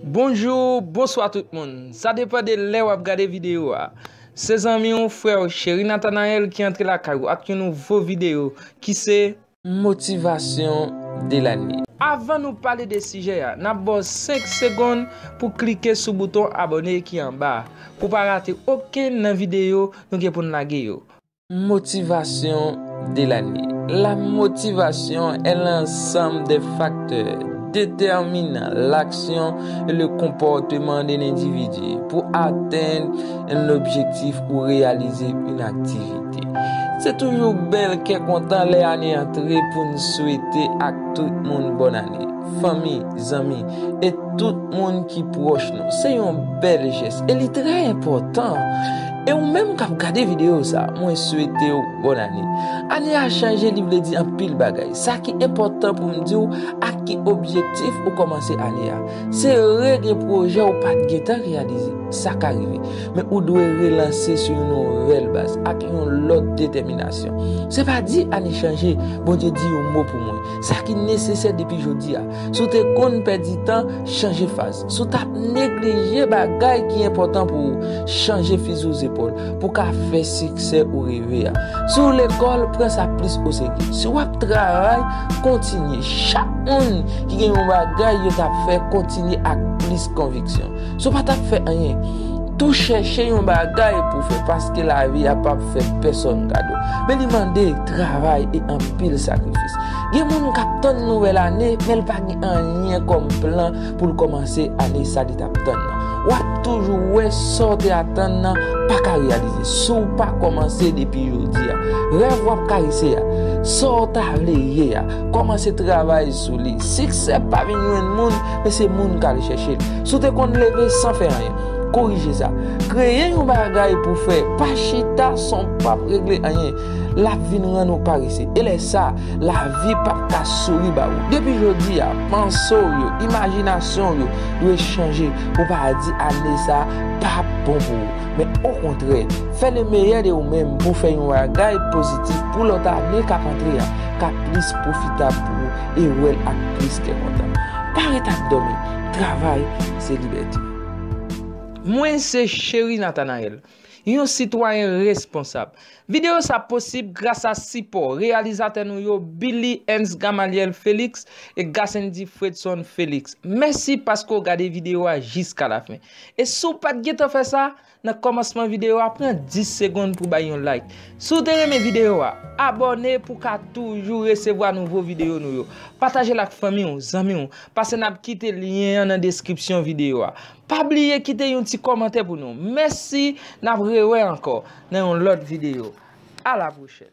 Bonjou, bonswa tout moun. Sa depan de lè wap gade video a. Se zanmi w, frè w, Cheri Nathanaël ki antre lakay ou ak yon nouvo video ki se. Motivation de l'année. Avan nou pale de sijè a, nap ba w 5 segonn pou klike sou bouton abone ki anba a, pou pa rate okenn nan video nou gen pou n lage yo. Motivasyon de lane La motivation est l'ensemble des facteurs déterminant l'action et le comportement d'un individu pour atteindre un objectif ou réaliser une activité. Se toujou bèl kè kontan lè ane antre pou n swete ak tout moun bòn ane. Fanmi, zanmi, e tout moun ki pwòch nou. Se yon bèl jès e li trè enpòtan. E ou menm kap gade video sa mwen swetew bòn ane. Ane a chanje li vle di anpil bagay. Sa ki enpòtan poum diw ak ki objektif ou kòmanse ane a. Se re gen pwojè ou pat gentan reyalize. Sa ka rive. Men ou dwe relanse sou yon nouvèl baz ak yon lòt detèminasyon. Se pa di ane chanje Bondye di yon mo pou mwen. Sa ki nesesè depi jodi a. Si w te konn pèdi tan chanje faz. Si w t ap neglije bagay ki enpòtan pou ou, chanje fizi w zepòl pou w ka fè siksè ou reve a. Si w lekòl, pran sa plis oserye. Si w ap travay, kontinye. Chak moun ki gen yon bagay yo t ap fè kontinye ak plis konviksyon. Si w pa t ap fè anyen tou chèche yon bagay pou w fè paske lavi a pap fè pèsòn kado. Men li mande travay e anpil sakrifis. Gen moun k ap tann nouvèl ane men l pa gen anyen kòm plan pou l kòmanse ane sa li t ap tann nan. W ap toujou wè sa w te atann nan pa ka reyalize si w pa kòmanse depi jodi a. Rèv w ap karese a, sa w ta vle ye a, kòmanse travay sou li. Siksè pa vin jwenn moun, men se moun k al chèche l. Si w te konn leve san fè anyen, korije sa. Kreye yon bagay pou w fè, pa chita san w pap regle anyen. l ap vin rann ou parese, e lè sa a, lavi p ap ka souri ba ou. Depi jodi a, panse w yo, imajinasyon w yo dwe chanje pou w pa di ane sa a pa p bon pou ou, men okontrè, fè lemeyè de ou menm pou w fè yon bagay pozitif pou lòt ane k ap antre a ka plis pwofitab pou ou e wè l ak plis kè kontan. Pa ret ap dòmi, travay se libète. Mwen se Cheri Nathanaël. Yon sitwayen responsab. Videyo sa posib gras a sipò reyalizatè nou yo Billy Ernst Gamaliel Felix e Gassendy Fredson Felix. Mèsi paske w gade videyo a jiska lafen. E si w pat gentan fè sa, nan kòmansman videyo a pran 10 segonn pou bay yon like. Si w te renmen videyo a, abòne pou w ka toujou resevwa nouvo videyo nou yo. Pataje l ak fanmi w, zanmi w, pase nap kite lyen an nan deskripsyon videyo a. Pa bliye kite yon ti kòmantè pou nou. Mèsi nap rewè ankò nan yon lòt videyo. A la pwochèn.